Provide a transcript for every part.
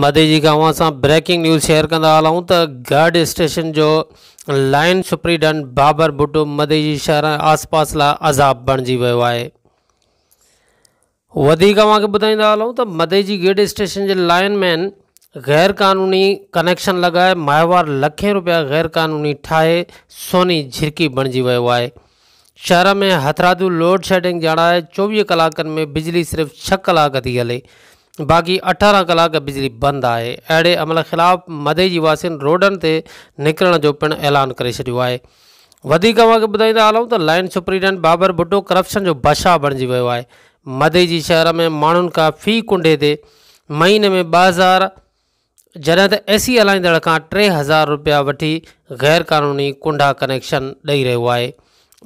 مدي جي کان اوهان سان بريڪنگ نيوز شيئر ڪندا هلون ته گارڊ اسٽيشن جو لائن سپريڊن بابر بٽو مدي جي شهر ۽ آس پاس لاء عذاب بڻجي ويو آهي وڌيڪ اوهان کي ٻڌائيندا هلون ته مدي جي گيڊ اسٽيشن جي لائن مين غير قانوني ڪنيڪشن لڳائي ماهوار لکين روپيا غير قانوني ٺاهي سوني جھرڪي بڻجي ويو آهي شهر ۾ هٿرادو لوڊ شيڊنگ ڄاڻائي چوويهه ڪلاڪن ۾ بجلي صرف ڇهه ڪلاڪ ٿي هلي باقي اٺارهن ڪلاڪ بجلي بند آهي اهڙي عمل خلاف مدئي جي واسين روڊن تي نڪرڻ جو پڻ اعلان ڪري ڇڏيو آهي وڌيڪ اوهان کي ٻڌائيندا هلون ته line superintendent Babar Bhutto corruption جو بادشاهه بڻجي ويو آهي مدئي جي شهر ۾ ماڻهن کان في ڪنڊي تي مهيني ۾ ٻه هزار جڏهن ته اي سي هلائيندڙ کان ٽي هزار رپيا وٺي غير قانوني ڪنڊا ڪنيڪشن ڏئي رهيو آهي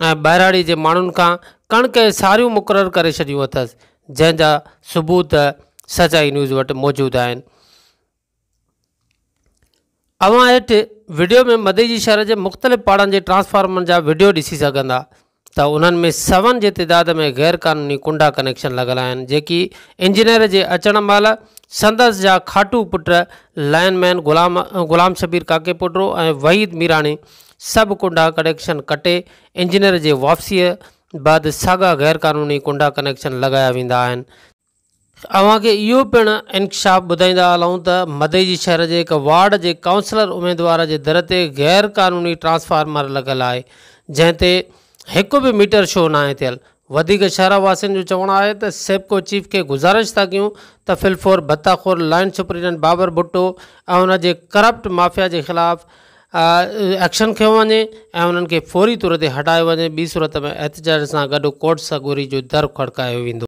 ۽ ٻهراڙي جي ماڻهن کان ڪڻڪ ۽ ساريون مقرر ڪري ڇڏيون اٿس جنهن جا ثبوت سچائي نيوز وٽ موجود آهن اوهان هيٺ وڊيو ۾ مدئي جي شهر جي مختلف پاڙن جي ٽرانسفارمرن جا وڊيو ڏسي سگهندا ته انهن ۾ سون جي تعداد ۾ غير قانوني ڪنڊا ڪنيڪشن لڳل آهن جيڪي انجنيئر جي اچڻ مهل سندس جا کاٽو پٽ لائن مين غلام غلام شبير ڪاڪيپوٽرو ۽ وحيد ميراڻي سڀ ڪنڊا ڪنيڪشن ڪٽي انجنيئر جي واپسيء بعد ساڳا غير قانوني ڪنڊا ڪنيڪشن لڳايا ويندا آهن اوهان کي اهو پڻ انڪشاف ٻڌائيندا هلون ته مدئي جي شهر جي هڪ وارڊ جي ڪائونسلر اميدوار جي در تي غير قانوني ٽرانسفارمر لڳل آهي جنهن تي هڪ به ميٽر شو ناهي ٿيل وڌيڪ شهر واسين جو چوڻ آهي ته سيپڪو چيف کي گذارش ٿا ڪيون ته في الفور ڀتا خور لائن سپريڊنٽ بابر ڀٽو ۽ ان جي ڪرپٽ مافيا جي خلاف ايڪشن کنيو وڃي ۽ انهن کي فوري طور تي هٽايو وڃي ٻي صورت ۾ احتجاج سان گڏ ڪورٽ سڳوري جو در کڙڪايو ويندو